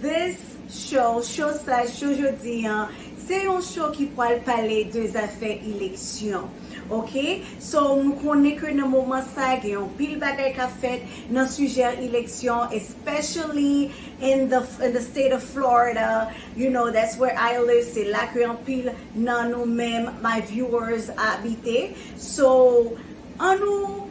This show, Cho sa, Cho jodi an, se yon show ki pwal pale de zafè eleksyon. Ok, so nou konnen ke nan moman sa gen yon pil bagay kap fèt nan sijè eleksyon especially in the in the state of Florida, you know that's where I live, se la ke anpil nan nou menm my viewers abite. So, an nou.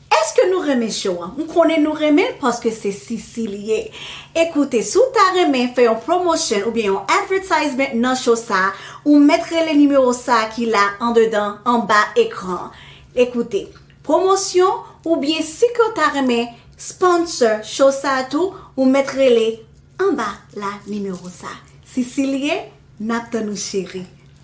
Eske nou renmen show an? M konnen nou renmen l paske se Sisi li ye. E koute, si w ta renmen fè yon promotion oubyen yon advertisement nan show sa, ou mèt rele nimewo sa ki la andedan anba ekran an. E koute, promosyon oubyen si ke w ta renmen sponsor show sa tou, ou mèt rele anba la nimewo sa. Sisi li ye, n ap tann ou cheri.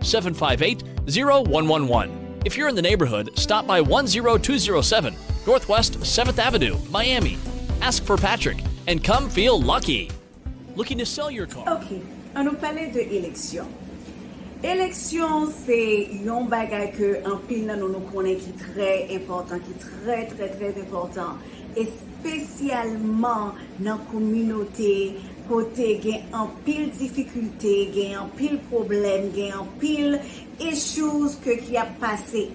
758-0111 If you're in the neighborhood, stop by 10207 Northwest 7th Avenue, Miami Ask for Patrick and come feel lucky! Looking to sell your car? Ok, an nou pale de eleksyon. Eleksyon se yon bagay ke anpil nan nou nou konnen ki trè enpòtan, ki trè trè trè enpòtan espesyalman nan kominote. kote gen anpil difikilte, gen anpil pwoblèm, gen anpil issues ke ki ap pase.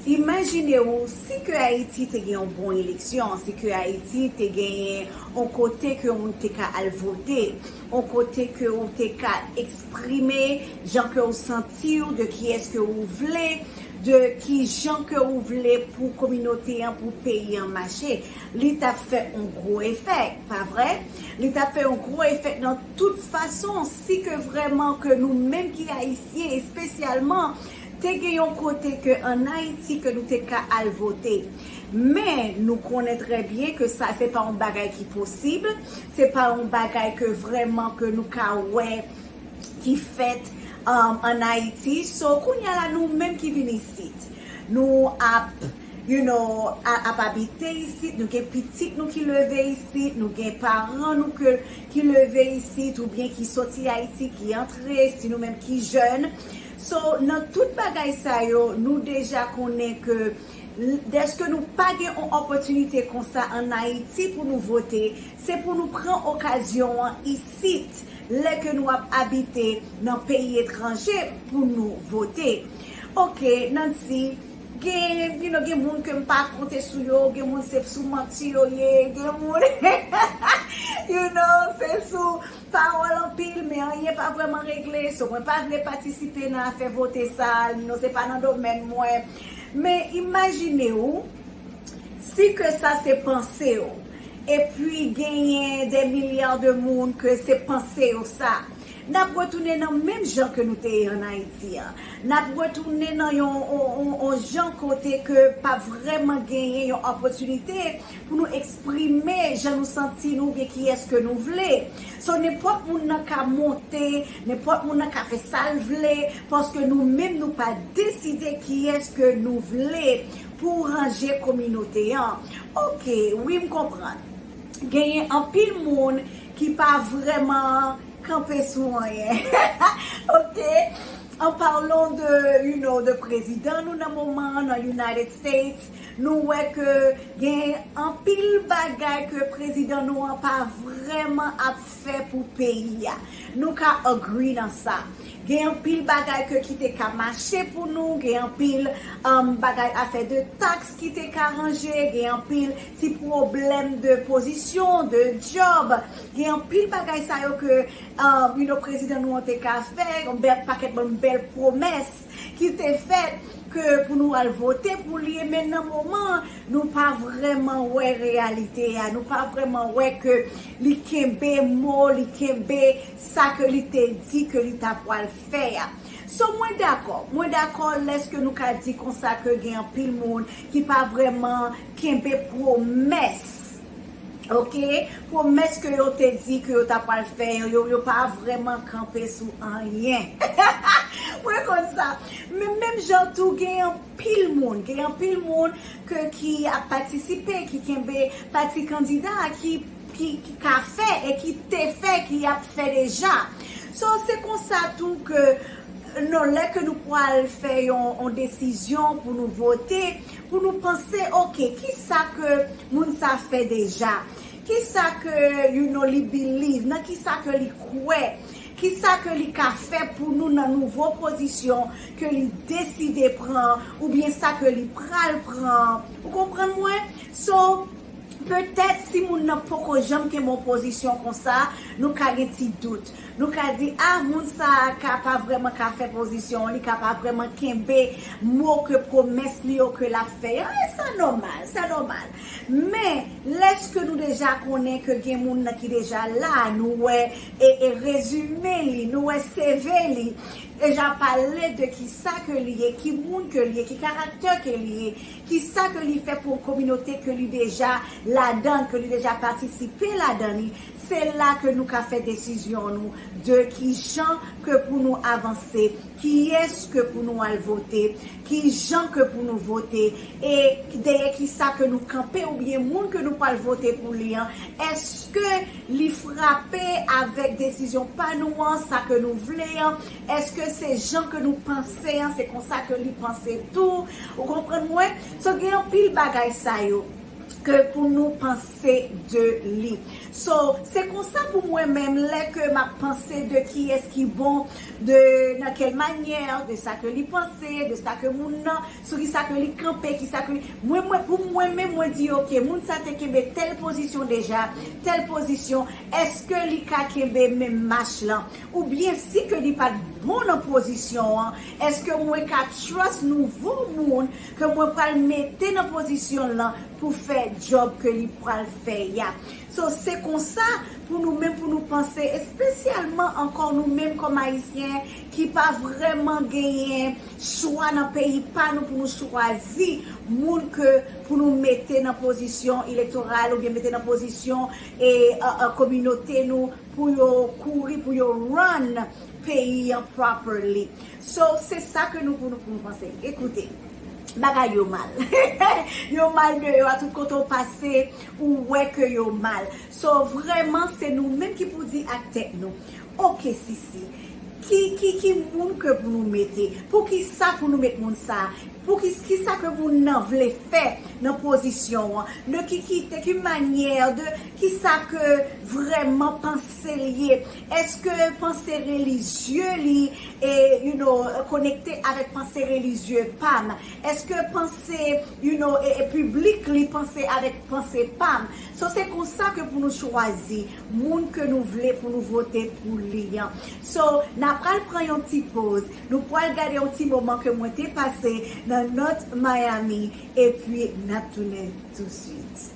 Imajine ou si ke Ayiti te gen yon bon eleksyon, si ke Ayiti te genyen yon kote ke yon moun te ka al vote, yon kote ke ou te ka eksprime jan ke ou santi ou, de kiyès ke ou vle, de kijan ke ou vle pou kominote an, pou peyi an mache. Li t ap fè yon gwo efè, pa vre? Li t ap fè yon gwo efè nan tout fason, si ke vrèman ke nou menm ki Ayisyen espesyalman te gen yon kote ke an Ayiti ke nou te ka al vote. Men, nou konnen trè byen ke sa se pa yon bagay ki posib, se pa yon bagay ke vrèman ke nou ka wè ki fèt an Ayiti. So, kounye a la nou menm ki vin isit, nou ap. You know, ap abite isit, nou gen pitit nou ki leve isit, nou gen paran nou ke ki leve isit ou byen ki soti Ayiti, ki antre, si nou menm ki jèn. So, nan tout bagay sa yo, nou deja konnen ke dèske nou pa gen on opòtinite konsa an Ayiti pou nou vote, se pou nou pran okazyon an isit, lè ke nou ap abite nan peyi etranje pou nou vote. Ok, Nancy. Gen you know gen moun kem pa konte sou yo gen moun se sou manti yo ye gen moun you know se sou pawol anpil men anyen pa vreman regle so mwen pa vle patisipe nan afe vote sa you know se pa nan domèn mwen men imajine ou si ke sa se panse ou epi genyen de milyar de moun ke se panse yo sa. Nap retounen nan menm jan ke nou te ye an Ayiti a. Nap retounen nan yon yon jan kote ke pa vrèman genyen yon opotinite pou nou eksprime jan nou santi nou oubyen kiyès ke nou vle. So nenpòt moun nan ka monte, nenpòt moun nan ka fè sa l vle paske nou menm nou pa deside kiyès ke nou vle pou ranje kominote an. Ok wi m konprann. genyen anpil moun ki pa vrèman kanpe sou anyen ok an parlon de you know de prezidan nou nan moman an nan United States nou wè ke gen anpil bagay ke prezidan nou an pa vrèman ap fè pou peyi a. Nou ka agree nan sa. Gen anpil bagay ke ki te ka mache pou nou, gen anpil bagay afè de tax ki te ka ranje, gen anpil ti pwoblèm de pozisyon, de job, gen anpil bagay sa yo ke you know prezidan nou an te ka fè, yon pakèt bon bèl pwomès. ki te fèt ke pou nou al vote pou li e men nan moman an nou pa vrèman wè reyalite a, nou pa vrèman wè ke li kenbe mo, li kenbe sa ke li te di ke li ta pwal fè a. So mwen dakò, mwen dakò lèske nou ka di konsa ke gen anpil moun ki pa vrèman kenbe pwomès Ok pwomès ke yo te di ke yo ta pwal fè yo yo pa vrèman kanpe sou anyen mwen konn sa men menm jan tou gen anpil moun gen anpil moun ke ki ap patisipe ki kenbe pati kandida ki ki ka fè e ki te fè ki ap fè deja so se konsa tou ke non lè ke nou pwal fè yon desizyon pou nou vote. pou nou panse ok kisa ke moun sa fè deja kisa ke you know li believe nan kisa ke li kwè kisa ke li ka fè pou nou nan nouvo pozisyon ke li deside pran ou byen sa ke li pral pran ou konprann mwen so petèt si moun nan poko janm kenbe yon pozisyon konsa nou ka gen ti dout Nou ka di, ah moun sa a ka pa vrèman ka fè pozisyon an, li ka pa vrèman kenbe mo ke pwomès li yo ke l ap fè yo, e sa nòmal, sa nòmal. Men, lèske nou deja konnen ke gen moun nan ki deja la, nou wè e rezime li, nou wè CV li, deja pale de ki sa ke li ye, ki moun ke li ye, ki karaktè ke li ye, ki sa ke li fè pou yon kominote ke li deja ladan l, ke li deja patisipe ladan li, Se la ke nou ka fè desizyon nou de kijan ke pou nou avanse, kiyès ke pou nou al vote, kijan ke pou nou vote, e dèyè kisa ke nou kanpe oubyen moun ke nou pwal vote pou li an, èske li frape avèk desizyon pa nou an, sa ke nou vle an, èske se jan ke nou panse an se konsa ke li panse tou, ou konprann mwen? So gen anpil bagay sa yo ke pou nou panse. se de li so se konsa pou mwen menm lè ke map panse de kiyès ki bon de nan kèl manyè de sa ke li panse de sa ke moun nan sou ki sa ke li kanpe ki sa ke li mwen mwen pou mwen menm mwen di ok moun sa te kenbe tèl pozisyon deja tèl pozisyon èske li ka kenbe menm mach lan ou byen si ke li pat bon nan pozisyon an èske mwen ka trust nouvo moun ke mwen pral mete nan pozisyon lan pou fè job ke li pwal fè ya so se konsa pou nou menm pou nou panse espesyalman ankò nou menm kòm ayisyen ki pa vrèman genyen chwa nan peyi pa nou pou nou chwazi moun ke pou nou mete nan pozisyon elektoral oubyen mete nan pozisyon e kominote nou pou yo kouri pou yo run peyi an properly. So se sa ke nou pou nou pou nou panse. Ekoute. Bagay yo mal. Yo mal deyò a tout kote ou pase ou wè ke yo mal. So vreman se nou menm ki pou di ak tèt nou. Ok Sisi. Ki ki ki moun ke pou nou mete. Pou ki sa pou nou met moun sa. Pou ki ki sa ke moun nan vle fè nan pozisyon an. De ki ki de ki manyè de ki sa ke vreman panse li ye. Eske panse relijye li e you know konekte avèk panse relijye pam? Eske panse you know e piblik li panse avèk panse pam? So se konsa ke pou nou chwazi moun ke nou vle pou nou vote pou li an. So na pral pran yon ti poz, nou pwal gade yon ti moman ke mwen te pase nan North Miami epi nap tounen tou swit.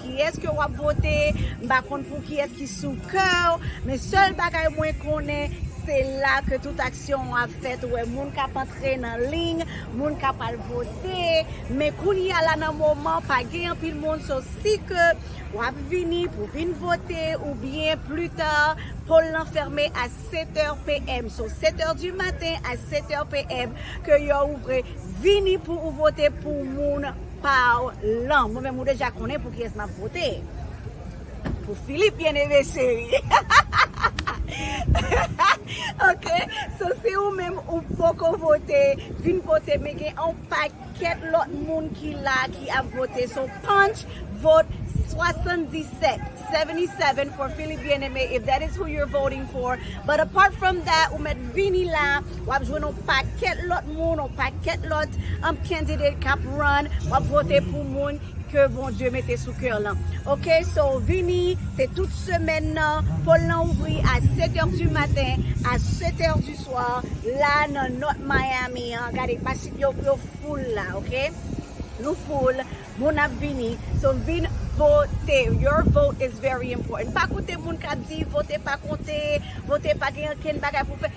Kiyès ke wap vote, m pa konn pou kiyès ki sou kèw, men sèl bagay mwen konnen se la ke tout aksyon an ap fèt, ou wè moun kap antre nan liy, moun kap al vote, men kounye a la nan moman pa gen anpil moun, so si ke wap vini pou vin vote oubyen pli ta, poll lan fèmen a 7 è PM, so 7 è di maten a 7 è PM ke yo ouvre, vini pou ou vote pou moun. Paw lan mwen menm ou deja konnen pou kiyes map vote pou Philippe bien aime cheri ok so si ou menm ou poko vote vin vote men gen yon paket lot moun ki la ki ap vote so panch vote 77. 77 for Philippe Bien-Aimé if that is who you're voting for but apart from that ou mèt vini la wap jwenn yon pakèt lòt moun yon pakèt lòt um, candidate kap run wap vote pou moun ke Bondye mete sou kè w lan ok so vini se tout semèn nan pol lan ouvri a 7 heures du matin a 7 heures du soir la nan North Miami an gade machin yo yo full la ok nou full. Moun ap vini so vin vote your vote is very important pa koute moun kap di vote pa konte vote pa gen ankenn bagay pou fè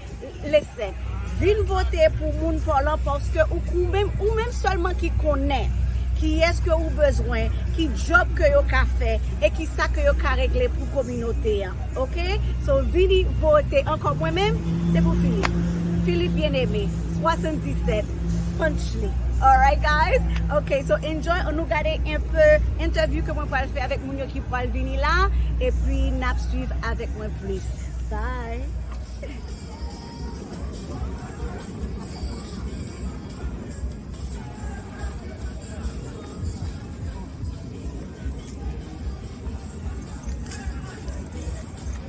listen vin vote pou moun paw lan paske ou menm ou menm sèlman ki konnen kiyès ke ou bezwen ki djòb ke yo ka fè e kisa ke yo ka regle pou kominote an ok so vini vote ankò mwen menm se pou Philippe Philippe bien aimé 77. Sponchly alright guys ok so enjoy an nou gade enpe entèvyou ke mwen pwal fè avèk moun yo ki pwal vini la epi nap swiv avèk mwen plis bye.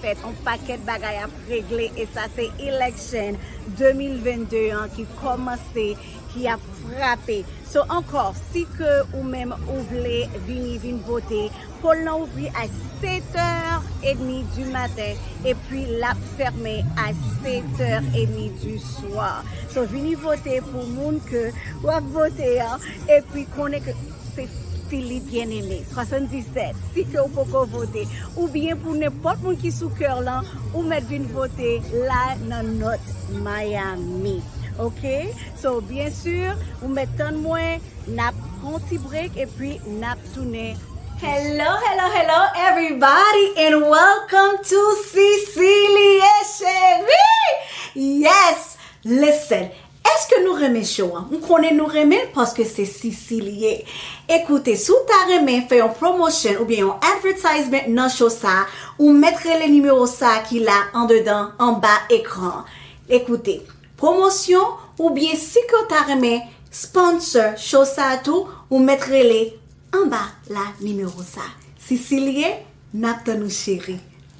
fèt on pakèt bagay ap regle e sa se election 2022 an ki kòmanse ki ap frape so ankò si ke ou menm ou vle vini vin vote poll nan ouvri a 7 heures et demie du matin epi lap fèmen a 7 heures et demie du soir so vini vote pou moun ke wap vote an epi konnen ke Se Philippe Bien-Aimé 77 si ke ou poko vote ou byen pou nenpòt moun ki sou kè w lan ou mèt vin vote la nan North Miami ok so byen sur ou mèt tann mwen nap pran yon ti break epi nap tounen Hello hello hello everybody and welcome to Cecilie Cherie yes listen Eske nou renmen show an? M konnen nou renmen l paske se Sisi li ye. Ekoute, si w ta renmen fè yon promotion oubyen yon advertisement nan show sa, ou mèt rele nimewo sa ki la andedan anba ekran an. Ekoute, promosyon oubyen si ke w ta renmen sponsor show sa tou, ou mèt rele anba la nimewo sa. Sisi li ye, n ap tann ou cheri.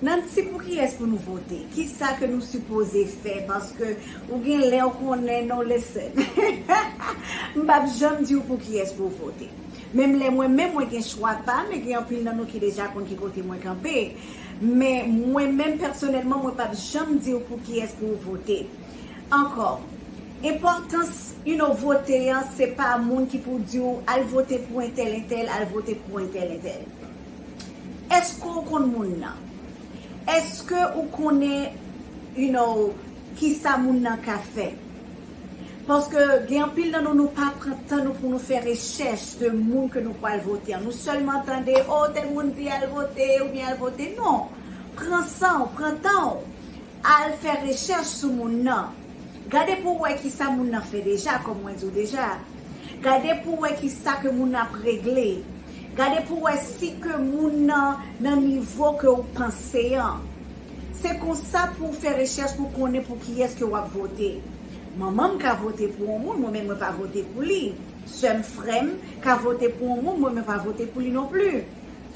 Nancy pou kiyes pou nou vote? Kisa ke nou sipoze fè paske ou gen lè ou konnen non listen m pap janm diw pou kiyes pou w vote menm lè mwen menm mwen gen chwa pam e gen anpil nan nou ki deja konn ki kote mwen kanpe men mwen menm pèsonèlman mwen pap janm diw pou kiyes pou w vote ankò enpòtans you no vote an se pa moun ki pou diw al vote pou entèl entèl al vote pou entèl entèl. Eske w konn moun nan? Eske ou konnen you know kisa moun nan ka fè? Paske gen anpil nan nou nou pa pran tan nou pou nou fè rechèch de moun ke nou pwal vote an. Nou sèlman tande oh tèl moun di al vote oubyen al vote. Non! Pran san w, pran tan w, al fè rechèch sou moun nan. Gade pou w wè kisa moun nan fè deja, kòm mwen di w deja. Gade pou w wè kisa ke moun nan ap regle. Gade pou wè si ke moun nan nan nivo ke ou panse an. Se konsa pou ou fè rechèch pou konnen pou kiyès ke wap vote. Manman m ka vote pou on moun mwen menm mwen pa vote pou li. Sè m, frè m, ka vote pou on moun mwen mwen pa vote pou li non pli.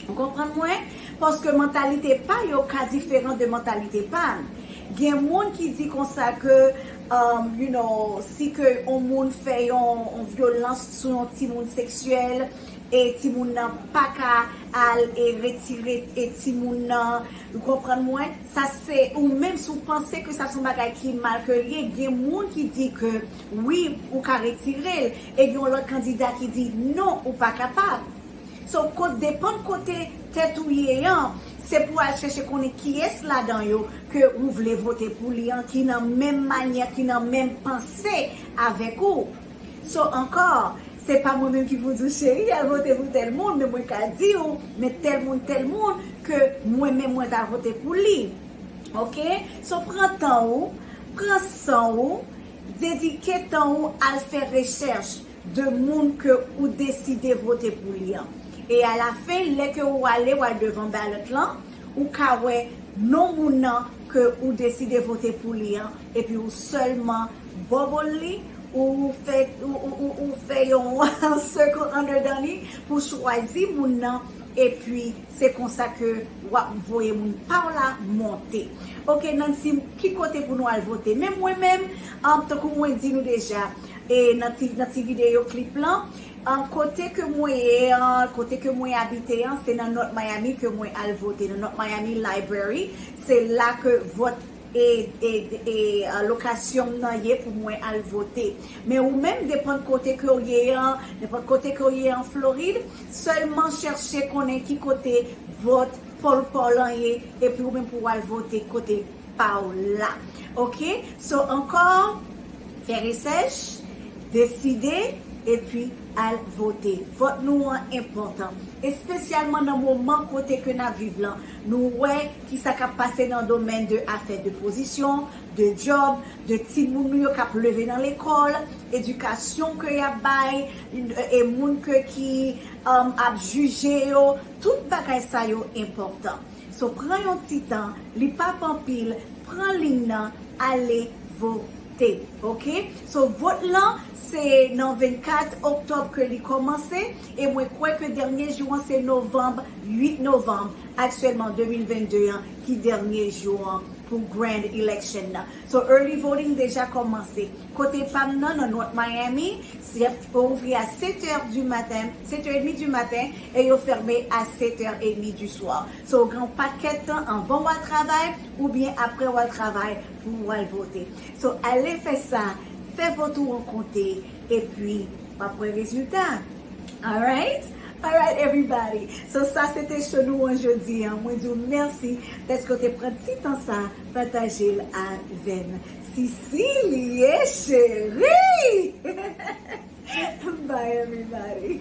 Ou konprann mwen? Paske mantalite pa yo ka diferan de mantalite pa n. Gen moun ki di konsa ke you know si ke on moun fè yon vyolans sou yon timoun seksyèl, e timoun nan paka al e retire e timoun nan u konprann mwen sa se u menm si w panse ke sa son bagay ki mal ke l ye gen moun ki di ke wi ou ka retire l e gen yon lòt kandida ki di non ou pa kapab so kot depann kote tèt ou ye an se pou al chèche konnen kiyès ladan yo ke ou vle vote pou li an ki nan menm manyè ki nan menm panse avèk ou So ankò, se pa mwen menm ki pou di w cheri al vote pou tèl moun, men mwen ka di w men tèl moun tèl moun ke mwen menm mwen ta vote pou li. Ok, so pran tan ou, pran san ou, dedike tan ou al fè rechèch de moun ke ou deside vote pou li an. E a la fen, lè ke ou ale w al devan ballot lan, ou ka wè non moun nan ke ou deside vote pou li an, Epi ou sèlman bubble li ou fè yon circle andedan li pou chwazi moun nan epi se konsa ke wap voye moun paw la monte ok nan dim ki kote pou nou al vote men mwen menm tankou mwen di nou deja nan ti video clip lan kote ke mwen ye an kote ke mwen abite an se nan north miami ke mwen al vote nan north miami library se la ke vòt e lokasyon m nan ye pou mwen al vote. Men ou menm depan kote ke w ye an, nenpòt kote ke w ye an Florid, sèlman chèche konnen ki kote vòt paw lan ye epi ou menm pou w al vote kote pa w la. Ok, so ankò, fè resèch, deside epi al vote. Vòt nou an enpòtan, espesyalman nan moman kote ke n ap viv lan. Nou wè ki sa kap pase nan domèn de afè de pozisyon, de djòb, de timoun nou yo kap leve nan lekòl, edikasyon ke yap bay, e moun ke ki ap jije yo, tout bagay sa yo enpòtan. So pran yon ti tan, li pap anpil, pran liy nan, ale vote. Ok. So vot lan se nan 24 oktòb ke li kòmanse, E mwen kwè ke dènye jou an se Novanb, 8 Novanb aktyèlman 2022 an ki dènye jou an pou Grand Election nan. So early voting deja kòmanse. Kote pa m nan, nan North Miami, sèp yo ouvri a 7 è du maten, 7 è edmi du maten e yo fèmen a 7 è edmi du swa. So ou gen yon pakèt tan anvan w al travay oubyen aprè w al travay pou w al vote. So ale fè sa, fè vot ou an konte, Epi wap wè rezilta alright. Alright everybody so sa se te show nou an jodi an mwen di w mèsi dèske w te pran ti tan sa pataje l avè n sisi l ye cherii bye everybody.